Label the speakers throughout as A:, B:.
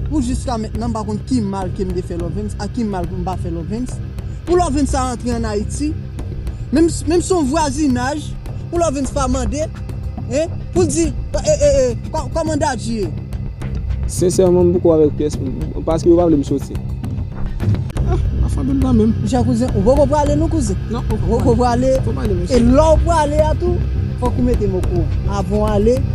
A: Pou jiska mentnan m pa konn ki mal ke m te fè Lovens ak ki mal pou m pa fè Lovens. Pou Lovens ta rantre an Ayiti, menm menm si se yon vwazinaj, pou Lovens pa mande, hein, pou l di, e, e, e, kòman Dadji ye?
B: Sensèman m poko avèk pyès moun, paske yo pa vle m soti. Ah, pa fè tout tan menm. Jan kouzen, ou poko
A: prale non kouzen? Non, ou poko prale.
B: Ou
A: poko prale, mesye. E lè w prale a tou, fòk ou mete m okouran. Avan w ale.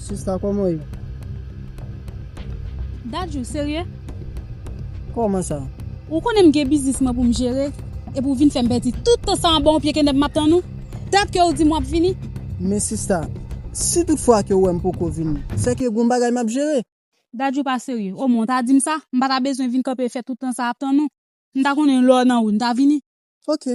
A: Sista koman ye?
C: Dadju, serye?
A: Koman sa? Ou konnen m gen
C: biznis mwen pou m jere, epi ou vin fè m pèdi tout tan sa anba yon pye kenèp m ap tann ou? Dat ke ou di m w ap vini? Men sista,
A: si tout fwa ke ou wè m poko vini, se ke gen yon bagay m ap jere. Dadju, ou pa serye?
C: Omwen ou ta di m sa, m pa ta bezwen vin kanpe fè tout tan sa ap tann ou. M ta konnen lè w nan wout, m ta vini. Ok.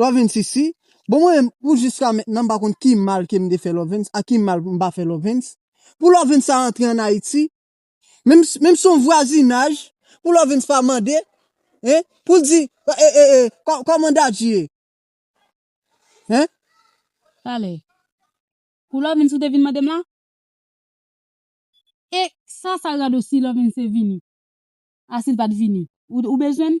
A: Lovens isi, bon mwen menm pou jiska mentnan m pa konn ki mal ke m te fè Lovens ak ki mal m pa fè Lovens, pou Lovens ta antre an Ayiti, menm menm si son vwazinaj, pou Lovens pa mande, hein, pou l di, e, e, e, kò, kòman Dadji ye? Hein?
C: Talè. Pou Lovens ou te vin mande m la? E, sa sa rado si Lovens te vini? A si l pa t vini? Ou, ou bezwen m?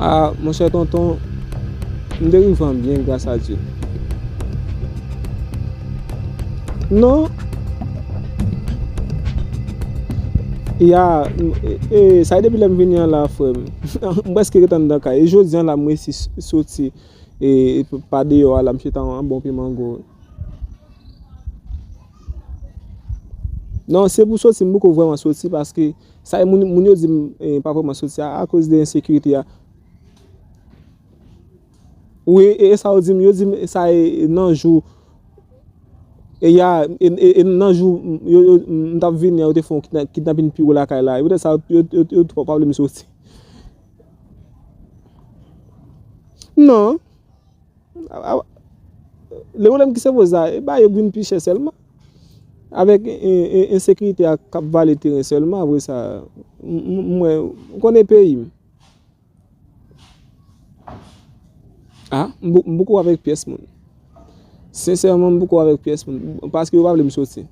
C: Ah
B: monchè tonton m te rive an byen gras a Dye. Non Ya ee sa depi lè m vini an la frè m. M prèske ret anndan kay. E jodi an la m resi soti ee pa deyò a la m chita an bon pimango. Non se pou soti m poko vrèman soti paske Sa moun yo di m pa vreman sot se a koz de ensekirite a wi e sa yo di m yo di m sa e nan jou e ya e nan jou m tap vini yo te fon kidnapin pi gwo lakay la e poutèt sa yo t pa vle m soti nan le pwoblèm ki se poze la e bagay yo k vin pi chè sèlman. Avèk ensekirite a kap vale teren sèlman apre sa m wè m konnen peyi m. A m poko avèk pyès moun. Sensèman m poko avèk pyès moun paske yo pa vle m soti.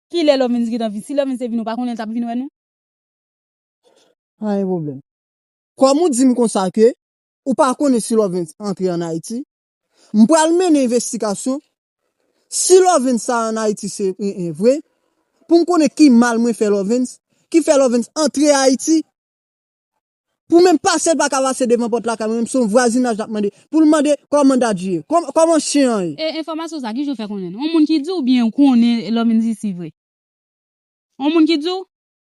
C: Kilè Lovens gentan vin? Si Lovens te vin ou pa konnen l tap vin wè nou?
A: Pa gen pwoblèm. Kòm ou di m konsa ke ou pa konnen si Lovens antre an Ayiti, M pral mennen envestigasyon, si Lovens sa an Ayiti se en en vre, pou m konnen ki mal mwen fè Lovens, ki fè Lovens antre Ayiti, pou menm pase l pa ka pase devan pòt lakay mwen, menm si se yon vwazinaj l ap mande, pou l mande kòman Dadji ye, kòman chen an ye. E enfòmasyon sa a, ki
C: jan w fè konnen l? On moun ki di w oubyen ou konnen Lovens isi vre? On moun ki di w?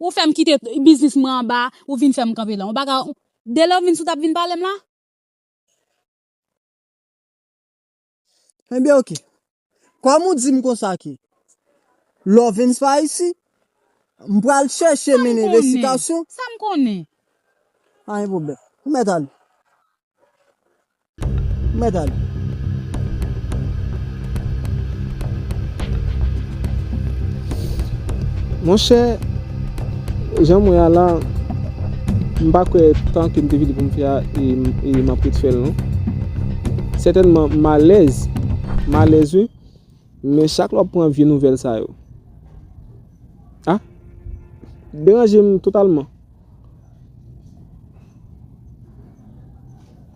C: Ou fèm kite biznis mwen anba ou vin fèm kanpe lan. Ou paka de lè ou vin sou tap vin palem la.
A: Ebyen ok. Kòm ou dim konsa ke Lovens pa isi, m pral chèche men envestigasyon. Sam konnen.
C: Pa gen
A: pwoblèm. Ou mèt ale. Mèt ale.
B: Monchè, jan mwen a la, m pa kwè tan ke m te vini pou m fè a e m ap ret fè l non. Sètènman m alèz, m alèz wi. Men chak lè wap pran vye nouvèl sa yo. Ah! Deranje m totalman.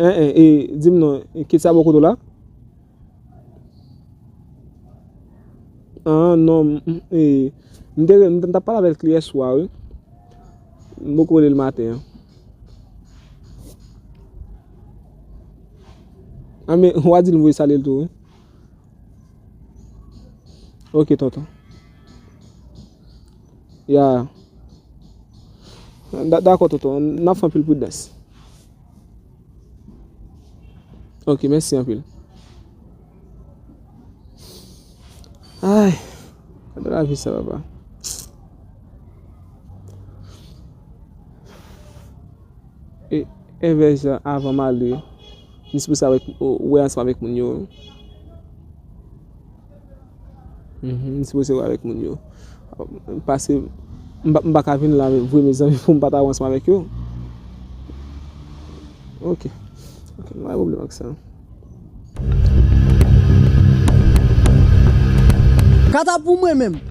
B: Eh eh e di m non, kit sa bò kote w la? Ah non, m te rele, m tap pale avèk li yè swa wi. M poko rele l maten an. Ah men, wa di l m voye salye l tou wi. Ok tonton. Ya. Dako tonton, nan fè anpil pwidans. Ok, mèsi anpil. Ay, kade la vi sa papa. E, e vè jan avan malou. Ni sipouse avèk wè ansanm avèk moun yo. Ni sipouse wè avèk moun yo. Pase, m pa ka vin la vre mezanmi pou m pa ta wè ansanm avèk yo. Ok. Ok, m pa gen pwoblèm ak sa.
A: Kata pou mwen menm!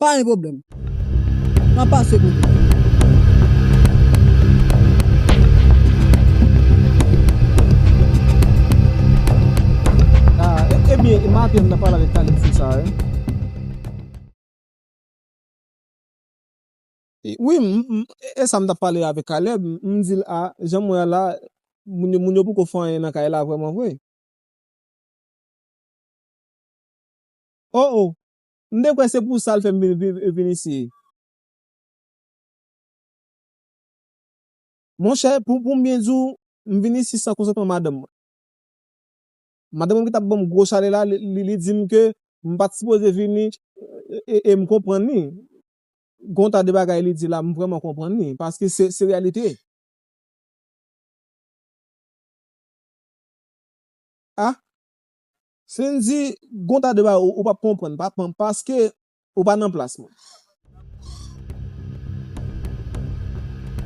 A: Pa gen pwoblèm. M ap pase kote
B: w. Ebyen, e maten m nan pale avèk Talib sou sa e. Wi, e sa m t ap pale avèk Caleb. M di l a, jan m wè a la, moun yo poko fè anyen nan kay la vrèman vre. O! O! M te kwè se pou sa l fè m vin viv e vin isi. Monchè, pou m byen di w, m vin isi san konsantman madanm mwen. Madanm mwen ki t ap ban m gwo chalè la, li di m ke m pa t sipoze vini e m konprann li. Gen yon tas de bagay li di la, m vrèman konprann li paske se reyalite. A. Fendy gon ta de bagay ou pap konprann papanm paske ou pa nan plas mwen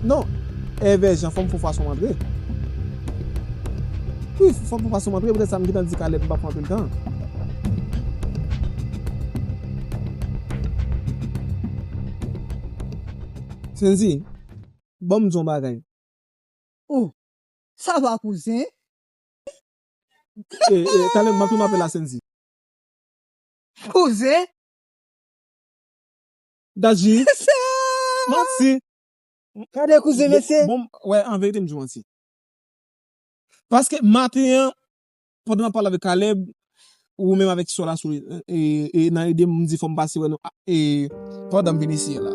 B: non Ever Jean fòm fò fason antre wi fòm fò fason antre petèt sa m gentan di Caleb m pap pran anpil tan. Fendy banm di yon bagay oh.
A: Sa va kouzen?
B: Talè map tounen apèl a Sendy. Kouzen. Dadji. Manti.
A: Gade kouzen mesye. Bon wè anverite mdi
B: manti. Paske maten an pandan map pale avèk Caleb Ou menm avèk sò la sou e nan ede m di fò m pase wè nou a e pandan m vin eseye la.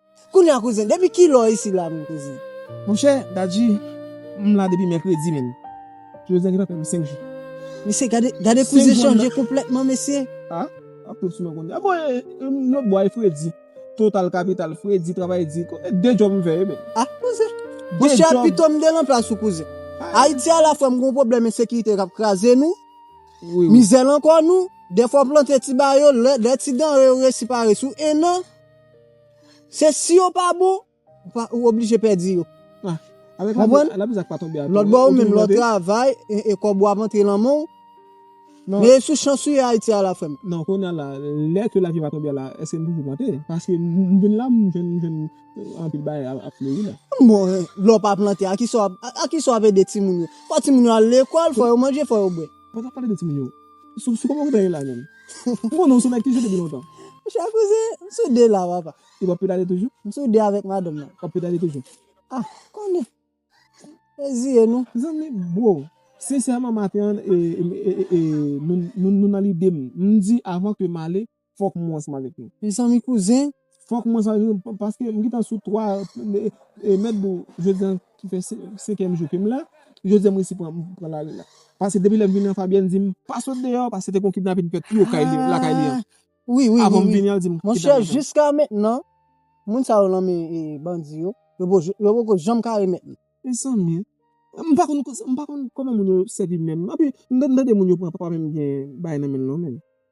A: Kounya kouzen depi kilè w isi la menm kouzen. Monchè Dadji
B: m la depi mèkredi menn Jodi a gen tankou 5 jou. Mesye gade kouzen chanje konplètman mesye. A ap tou sou mwen kounya. A bon e lòt bò a e fredi. Total kapital fredi travay di. E 2 djòb m fè yo menm. A kouzen.
A: Monchè pito m te lan plas ou kouzen. Ayiti a la frè m gon pwoblèm ensekirite k ap kraze nou. Mizè
B: lan kò nou.
A: Dèfwa w plante ti ba yo lè ti danre yo resi pare sou 1 an. Se si yo pa bon, ou oblije pèdi yo.
B: Konprann? Lòtbò ou menm lè w
A: travay e kòb ou ap antre nan men w, men e sou chans ou ye Ayiti a la frè m. Non, kounye a la,
B: lè ke lavi a pa tonbe a la, èske m toujou plante? Paske m vin la, m jwenn anpil bagay ap fleri la. Bon, lè w pa
A: plante, a ki sa w ap ede timoun yo? Fò timoun yo al lekòl, fò yo manje, fò yo bwè. Mwen tap pale de timoun yo.
B: Sou sou koman kote la menm? M konnen ou sou nèg ki jwe depi lontan. Monchè kouzen,
A: m sou 2 la papa. Ou ap pedale toujou?
B: M sou 2 avèk madanm
A: nan. Wap pedale toujou?
B: Ah, konnen.
A: Reziye nou. Zanmi, bro,
B: sensèman maten an e e e nou nou nan lide m. M di avan ke m ale. fok mwen ansanm avek nou. Mezanmi kouzen
A: fok mwen ansanm avek nou
B: paske m gentan sou 3 e mèt dou jodi an ki fè 5 èm jou kem la jodi an m resi pran lari la paske depi lèm vini an Fabienne dim pa sot deyò paske se te gon kidnapin fèt tou kay li lakay li an avanm vini an li dim
A: kidnapin fèt.
B: Monchè jiska
A: mentnan moun sa yo nan men bandi yo yo poko janm ka remèt li. Mezanmi
B: m pa konn koman moun yo sèvi menm epi m tande moun yo pran papa menm gen bagay nan menl non menn.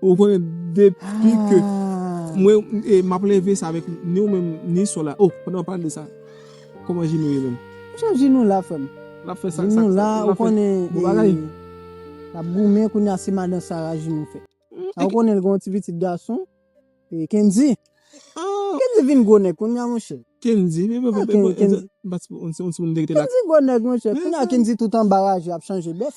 B: Ou konnen depi ke mwen e map leve sa avèk ni ou menm ni sò la oh pandan wap pale de sa kòman Jinou ye menm? Chef Jinou la frèm.
A: Lap fè sa Jinou
B: la ou konnen
A: e lap goumen kounya se madan Sara Jinou fè. Ou konnen l gen yon ti pitit gason e Kendy. Kendy vin gwo nèg kounya monchè. Kendy vin gwo nèg monchè. Kendy gwo nèg monchè kounya Kendy tout anba raje ap chanje bèf.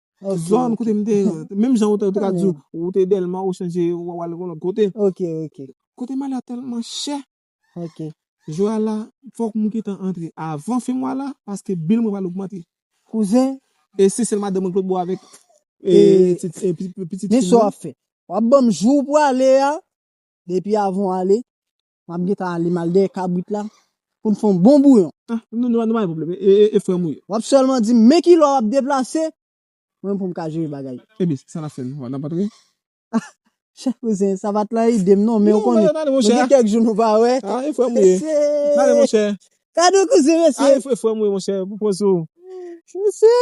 B: Yon zòn kote m te. Menm jan ou te ka di ou te Dèlma ou chanje ou al yon lòt kote. Ok, ok.
A: Kote m ale a
B: tèlman chè. Ok.
A: Jou a la,
B: fòk m gentan antre avan fen mwa la paske bil mwen pral ogmante. Kouzen.
A: E se sèl
B: madanm mwen k lòt bò avèk pitit fi m nan. Men sa w ap fè. W
A: ap ban m jou ou pwale a depi avan w ale. Map gentan ale mal dèyè kabrit la poun fon bon bouyon. Ah nou nou pa gen pwoblèm
B: e frèm ou ye. Wap sèlman dim men
A: kilè wap deplase mwen menm poum ka jere bagay yo. Ebyen sa nap fè nou
B: nap antre. Ah
A: chèf kouzen sa pat lan idem non men ou konnen nou gen kèk jou nou pa wè. Ah e frèm ou ye.
B: Nale monchè. Gadon kouzen
A: mesye. Ah e frèm ou ye monchè
B: pou poz ou. Mesye.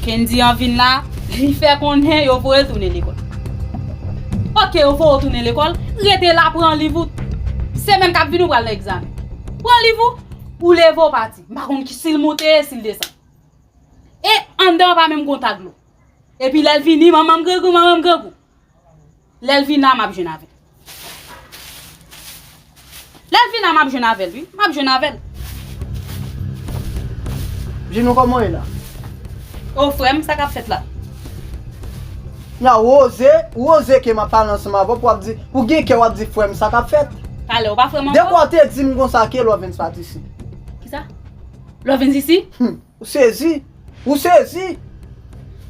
C: Kendy an vin la, li fè konnen yo voye l tounen lekòl. Ok yo voye w tounen lekòl, rete la pran liv ou. Semèn k ap vini ou pral nan egzamen. Pran liv ou, ou leve ou pati. M pa konn si l monte, si l desann. E anndan an pa menm gen yon tag dlo. Epi lè l vini, manman m grangou, manman m grangou. Lelvina map jwenn avèl. Lelvina map jwenn avèl wi. Map jwenn avèl.
A: Jinou koman ye la? Oh
C: frèm sa kap fèt la?
A: Nan Rose, Rose ke map pale ansanm avèw pou wap di, ou gen kè wap di frèm sa kap fèt? Talè
C: ou pa frèm ankò? Depi ou te dim konsa
A: ke Lovens pat isi. Kisa?
C: Lovens isi? Humm. Ou sezi!
A: Ou sezi!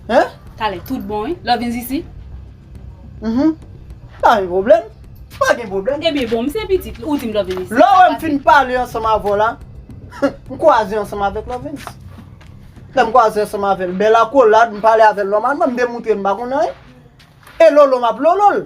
A: Hein? Talè tout
C: bon wi. Lè w vin Zisi? Uhmm.
A: Pa gen pwoblèm. Pa gen pwoblèm. Ebyen bon, m se pitit
C: li, ou di m lè w vin Zisi. Lè w wè m fin pale
A: ansanm avè w la, m kwaze ansanm avèk Lòvens. Lè m kwaze ansanm avè l, bèl akolad, m pale avè l nòmalman, m demoutre m pa konn anyen. E lolo m ap lolo l.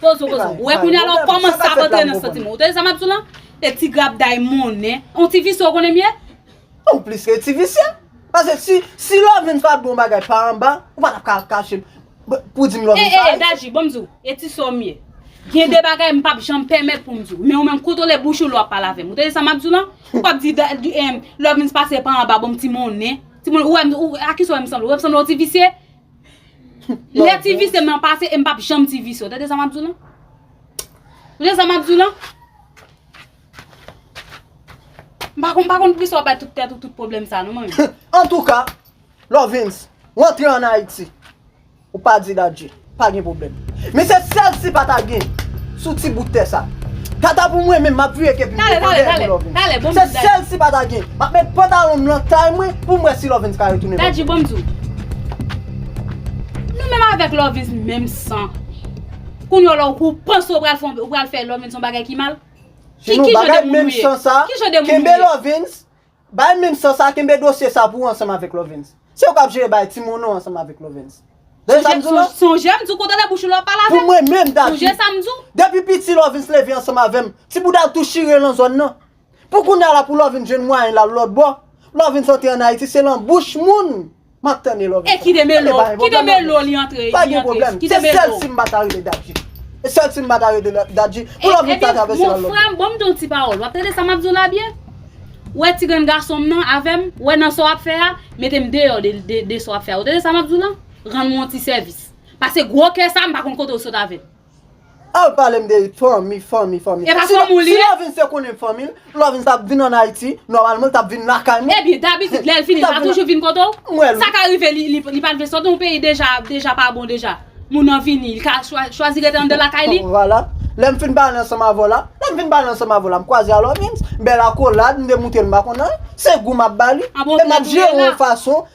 C: Pozo pozo. Ou wè kounya la ou kòmanse ap antre nan santi mwen. Ou tande sa map di w lan? E ti grabday monnen. On ti visye ou konnen m ye? Ou plis ke
A: ti visye. Pase si, si Loveline pa t bon bagay pa anba, ou pa tap ka kache m pou di m Loveline pa ayisyen. E e e Daji, bon m di w,
C: e ti sè w m ye. Gen de bagay m pap janm pèmèt pou m di w. Men ou menm kontwole bouch ou lè w ap pale avè m. Ou tande sa map di w lan? Ou pap di Loveline pase pa anba bon m ti monnen. Ti monnen, ou wè m, a kisa ou wè m sanble? Ou wè m sanble on ti visye? Lè ti visye m nan pase e m pap janm ti visye. Ou tande sa m ap di w lan? Ou tande sa m ap di w lan? M pa konn, m pa konn poukisa w bay tout tèt ou tout pwoblèm sa non man. Antouka,
A: Lovens, rantre an Ayiti. Ou pa di dadji, pa gen pwoblèm. Men se sèl si pata gen sou ti bout tè sa. Kata pou mwen menm map vire kep li devan dèyè pou Lovens.
C: Se sèl si pata
A: gen. Map met pantalon m lan tay mwen poum wè si Lovens ka retounen banm. Dadji bonm diw.
C: Nou menm avèk Lovens menm san. Kounye w la ou panse ou pral fon ou pral fè Lovens yon bagay ki mal? Ki jan de
A: moun ou ye? Ki jan de moun ou ye? Bay menm san sa kenbe dosye sa pou ou ansanm avèk lovens se ou kap jere bay timoun ou ansanm avèk lovens tande sam diw la
C: sonjem diw kontrole bouch ou lè wap pale avèm pou mwen menm Davy sonje
A: sam diw depi
C: piti lovens
A: leve ansanm avèm ti boudal tou chire lan zòn nan pou kounya la pou lovens jwenn mwayen lal lòtbò lovens antre an ayiti se lan bouch moun Map tann e love. E ki de melo, ki
C: de melo li antre, li antre, ki de melo.
A: Se sèl si m pata rele dadji. Se sèl si m pata rele dadji. Pou love li ta travèse nan love. Mon frè, banm di yon ti
C: pawòl. Wap tande sa map di w la byen? Ou wè ti grenn gason m nan avè m? Ou wè nan sa w ap fè a? Mete m deyò de sa w ap fè a. Ou tande sa map di w la? Rann mwen yon ti sèvis. Pase gwo kè sa m pa konn kote w sot avè l. Al palem
A: de fanmi fanmi fanmi. Epa
C: fanmi w li ye? Si lò vin se konnen
A: m fanmi l, lò vin sa vin an Ayiti, nòmalman l tap vin lakay mwen. Ebyen dabitid lèl fini
C: l pa toujou vin kote w? M wè l wi. Sa ka rive li pat vle sòti yon peyi deja deja pa bon deja. Moun nan vini li ka chwazi rete anndan lakay li? Vwala. Lèm fin
A: pale ansanm avè w la, lèm fin pale ansanm avè w la m kwaze a Lòvins, bèl akolad m demoute l m pa konn anyen, se gou map bali e map jere yon fason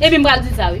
A: Epi m pral di l
C: sa
A: wi.